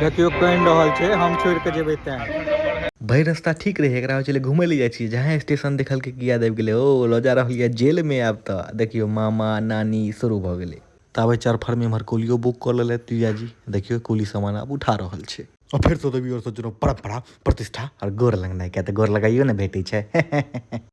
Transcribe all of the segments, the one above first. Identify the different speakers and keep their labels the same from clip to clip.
Speaker 1: देखियौ कनि रहल छै हम छोड़ कऽ जेबै ते भरि रास्ता ठीक रहै एकरा हो छलै घूमै लए जाइ छियै जहाँ स्टेशन देखलकै कि याद आबि गेलै ओ लऽ जा रहल यऽ जेलमे आब तऽ देखियौ मामा नानी शुरू भऽ गेलै ताबे चरफरमे एम्हर कोलियो बुक कऽ लेलथि जीजाजी देखियौ कोली सामान आब उठा रहल छै आ फेर सँ देवी आओर सोचलहुँ परम्परा प्रतिष्ठा आओर गोर लगनाइ किया तऽ गोर लगाइयो ने भेटै छै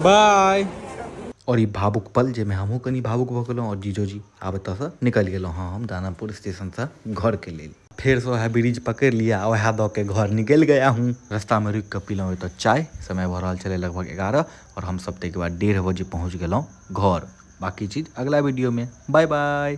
Speaker 1: बाय आओर ई भावुक पल जाहिमे हमहूँ कनि भावुक भऽ गेलहुँ आओर जीजोजी आब एतऽसँ निकलि गेलहुँ हँ हम दानापुर स्टेशनसँ घरके लेल फेर से वएह ब्रिज पकड़ि लिया आ वएह दऽ के घर निकलि गया हूँ रस्तामे रुकि कऽ पीलहुँ एतऽ चाय समय भऽ रहल छलै लगभग एगारह आओर हमसभ ताहिके बाद डेढ़ बजे पहुँच गेलहुँ घर बाँकी चीज अगिला वीडियोमे बाय बाय